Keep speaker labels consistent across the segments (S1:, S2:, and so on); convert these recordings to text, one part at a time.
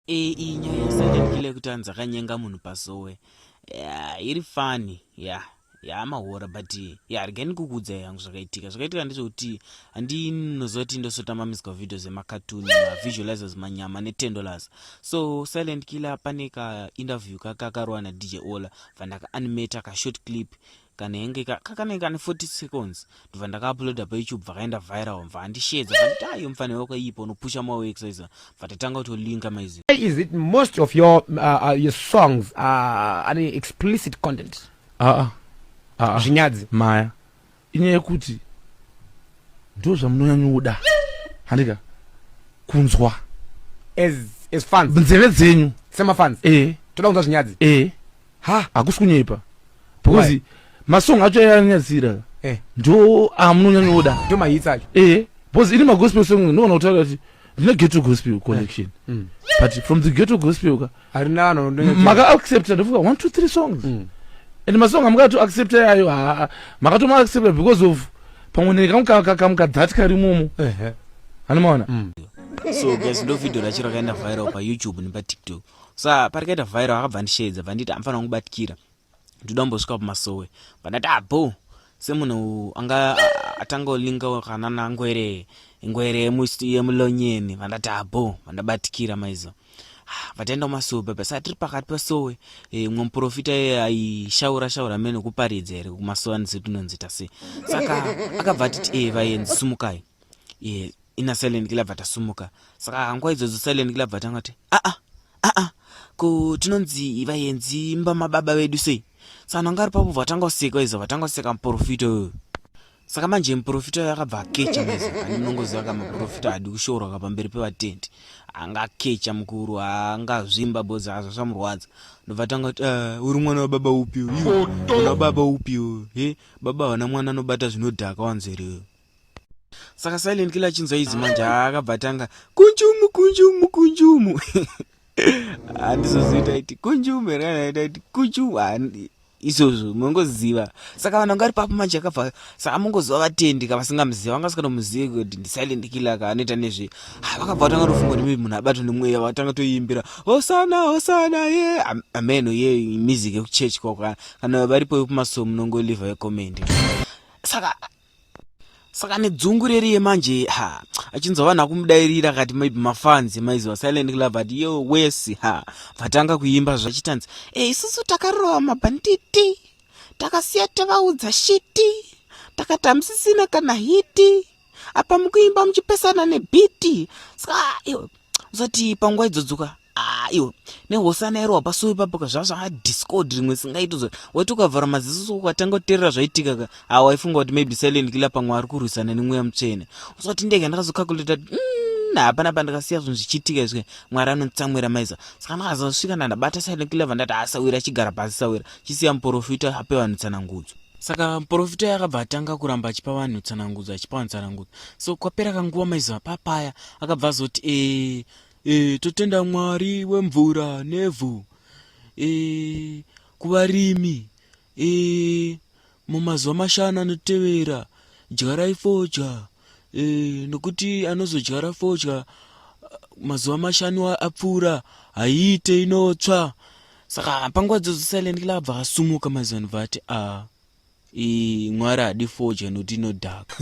S1: Ee iyi nyaya yaSilent Killer yekuti anzi akanyenga munhu pasowe yeah, iri funny yeah yaa mahora but ya regai ndikukuudza yangu zvakaitika zvakaitika ndezvekuti handinoziva kuti ndosota mamiswa video zvemakatuni mavisualizers manyama netendolers so silent killer pane kainterview kake akarowa nadj ola vandakaanimata kashort clip kanenge ka kakanenge kane 40 seconds ndobva ndakauploada payoutube vakaenda viral mva andishedza vandayo mfanira kwaipa unopusha mawo exercise bva tatanga kutolinka maizi is it most of
S2: your uh, uh, your songs are uh, any explicit content uh -uh. Uh -uh. zvinyadzi maya
S3: inyaya yekuti ndo zvamunonyanyoda handika kunzwa
S2: as as fans nzeve dzenyu
S3: semafans eh
S2: toda kunzwa zvinyadzi eh ha hakusi
S3: kunyepa because Why? masong acho ayanyadzira Eh. ndo amunonyanyoda ndo mahits acho eh
S2: because ini magospel
S3: song ndinoona kutaura kuti ndine ghetto gospel collection Mm. but from the ghetto gospel ka harina vanhu vanonyatso-
S2: maka accepta
S3: ndofunga one two three songs Mm. and masong amukatu accepta yayo haa makatoma accepta because of pamwe nekamukakamka that kari momo Ehe. anomaona
S1: so guys ndo video racho rakaenda viral payoutube nepatiktok sa parikaita vhairo akabva andisheedza bva nditi amfana wangu batikira ndoda kumbosvika kumasowe bva ndati abo ah, semunhu anga atanga olinga wakanana ngwere ngwere yemulonyeni bva ndati abo ah, vandabatikira maizo vataenda kumasowe baba sa tiri pakati pasowe e, mumwe muprofita iye aishaura shaura mene kuparidza here kumasowe andizivi tinonzita sei saka akabva atiti e vaenzi sumukai iye ina silent killer bva tasumuka saka hangwa idzodzo silent killer bva tangati aa ah, aa ah, ah, ko tinonzi vayenzi mba mababa vedu sei sano anga ari papo vatanga kuseka izo vatanga kuseka muprofita uyoyo saka manje muprofita uyo akabva akecha maizo aninongoziva ka muprofita hadi kushoorwa ka pamberi pevatendi anga akecha mukuru anga zvimba bozi azvo zvamurwadza ndobva tanga kuti ah, uri mwana wababa upi uyu una baba upi uyu he baba havana mwana anobata zvinodhaka wanzeriyo saka silent kila achinzwa izi manje akabva atanga kunjumu kunjumu kunjumu handizozoita iti kunjumu here kana ita iti kunjumu izvozvo munongoziva saka vanhu vanga vari papo manje akabva saka amongoziva vatendi ka vasingamuziva vanga vasikatomuzivi kuti ndisilent killer ka anoita nezve ah, vakabva vatanga tofunga kuti maybe munhu abatwa nemweya vatanga toimbira hosana hosana ye ameno ye music yekuchurch kwako kana varipo yekumasomo munongoliva yecomendi saka saka nedzungu reri yemanje ha achinzwa vanhu akumudairira akati maybe mafanzi maiziva silent club but yo wesi ha vatanga kuimba zvachitanzi e eh, isusu takarova mabhanditi takasiya tavaudza shiti takati hamusisina kana hiti apa mukuimba muchipesana nebhiti saka zoti panguva idzodzoka Ah, iwe nehosana iro wapasuwa ipapo ka zvazvaa discord rimwe singaiti zvo wati ukavhara maziso so ukatanga kuterera zvaitika ka ah waifunga kuti maybe silent killer pamwe ari kurwisana nemweya mutsvene usati ndega ndakazokakuleta mm, hapana pandakasiya zvinhu zvichiitika izvi mwari anotsamwira maiza saka ndakazosvika ndandabata silent killer vandati asawira achigara pasi sawira chisiya muporofita ape vanhu tsanangudzo saka muporofita uyo akabva atanga kuramba achipa vanhu tsanangudzo achipa vanhu tsanangudzo so kwapera kanguva maizuva papaya akabva azoti e E, totenda mwari wemvura nevhu e, kuvarimi e, mumazuva mashanu anotevera dyarai fodya e, nokuti anozodyara fodya mazuva mashanu apfuura haiite inotsva saka panguva dzozo silent club vakasumuka mazanu vati a ah. Ii, mwari hadi foja noti inodhaka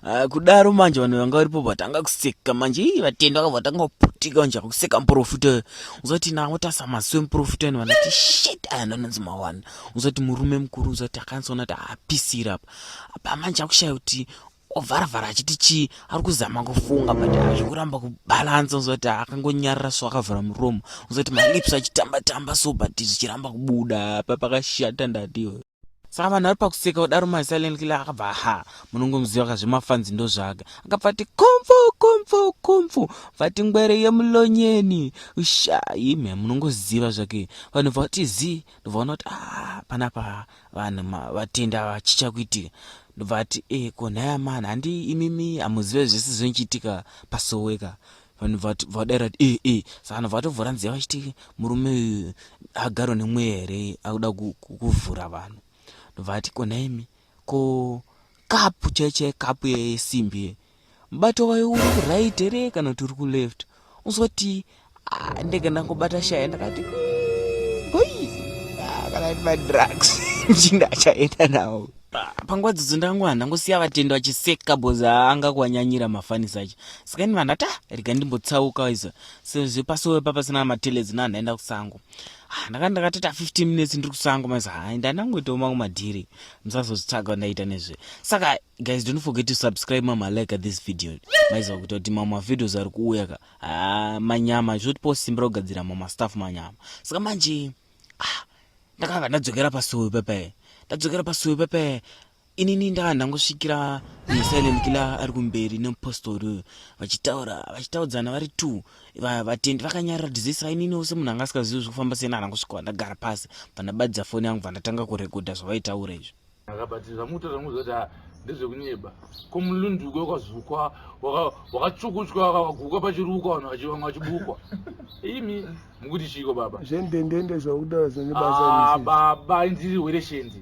S1: ah, kudaro manje vanhu vanga varipo vatanga kuseka manje ii vatendwa ka vatanga kuputika manje kuseka muprofita uzoti nawo tasa maziso emuprofita ino vanoti shit aya ndanonzi mawana uzoti murume mukuru uzoti akanzona ti apisira apa apa manje akushaya kuti ovharavhara achiti chii ari kuzama kufunga but azvikuramba kubalansa uzoti akangonyarira so akavhara muromo uzoti malips achitamba tamba so but zvichiramba kubuda pa pakashata ndatiwe saka vanhu vari pakuseka kudaro masilent kile akabva ha munongomuziva ka zvemafanzi ndo zvake akabva ati kumfu kumfu kumfu vati ngwere yemulonyeni ushayi me munongoziva zvake vanhu bva kuti zi ndobva ona kuti a ah, panapa vanhu vatenda vachichakuitika ndobva ati e ko nhai amana handi imimi hamuzive zvese zvinochiitika pasoweka vanhu vadaira kuti e e sa vanhu vatovhura nziya vachiti murume uyu agarwa nemweya here akuda kuvhura vanhu ndobva ati ko nhaimi ko kapu chaichai kapu yesimbi ye mubato wayo uri kuright here kana kuti uri kuleft uzoti ah, ndege ndangobata shaya ndakati hoi ah, kana iri madrugs mchinda achaenda nawo panguva dzidzo ndangu vanhu ndangosiya vatendo vachiseka bhozi aanga kuwanyanyira mafanisi acho saka ini vanhu ati ah, rega ndimbotsauka iza sezvo pasowe papasina mateledzi navanhu aenda kusango ah, ndakati ndakatoita 15 minutes ndiri kusango maisa hai ndandangoitawo mangu madhiri musazozvitsvaga ndaita nezve saka guys don't forget to subscribe mama like this video maiziva kuita kuti mamwe mavideos ari kuuya ka ah, manyama zvotipawo simba rokugadzira mamwe mastaff manyama saka manje ah, ndakabva ndadzokera pasuo pepe ndadzokera pasuo pepe inini ndanga ndangosvikira musilent kila ari kumberi nemupostori uyu vachitaura vachitaudzana vari two vatendi vakanyarira dizisa inini ose munhu anga asikazivi zvekufamba sena anangosvikawa ndagara pasi pandabadidza foni yangu vandatanga kurekodha zvavaitaura izvi akabatira zvamutaura
S3: muziva kuti ah, ndezvekunyeba ko mulunduko wakazukwa wakachukuchwa wakavaguka pachirukwa vanhu vachivanga vachibukwa imi mukuti chiiko baba zvendendende zvakutaura
S4: zvinebasa ah, baba inziri
S3: hwereshendi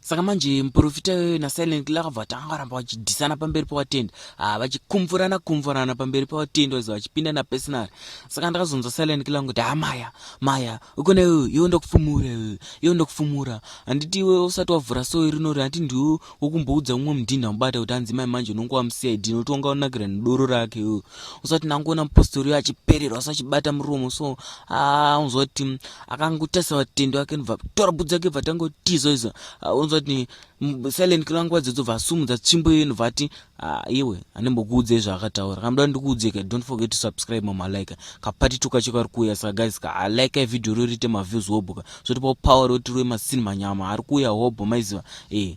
S4: saka manje
S1: muprofita iyoyo nasilent killer akabva vatanga varamba vachidhisana pamberi pawatenda ah, vachikumvurana kumvurana pamberi pawatenda vaiza vachipinda napersonary saka ndakazonzwa silent killer kuti ha maya maya ukona iwe iwe ndokufumura iwe iwe ndokufumura handiti iwe usati wavhura soyi rinori hati ndiwe wokumboudza umwe mudhinha mubata kuti hanzi mai manje unonge wamucid noti wanga unakira nedoro rake iwe usati nangoona mupostori uyo achipererwa so achibata muromo so ah, unzwa kuti akangotarisa vatende vake nobva tora bhudzi yake bva tangotiza iza unonzwa kuti silent kila nguva dzedzo bva asumudza tsvimbo iyoyo nobva ati iwe anembokuudzei zvaakataura kanoda ndikuudzeka don't forget to subscribe mamalike kapati tuka cho kari kuuya saka guys ka alike ah, video ro riite maviews hobho ka zvotipawo power roti rove masini manyama ari kuuya hobho maiziva ee eh.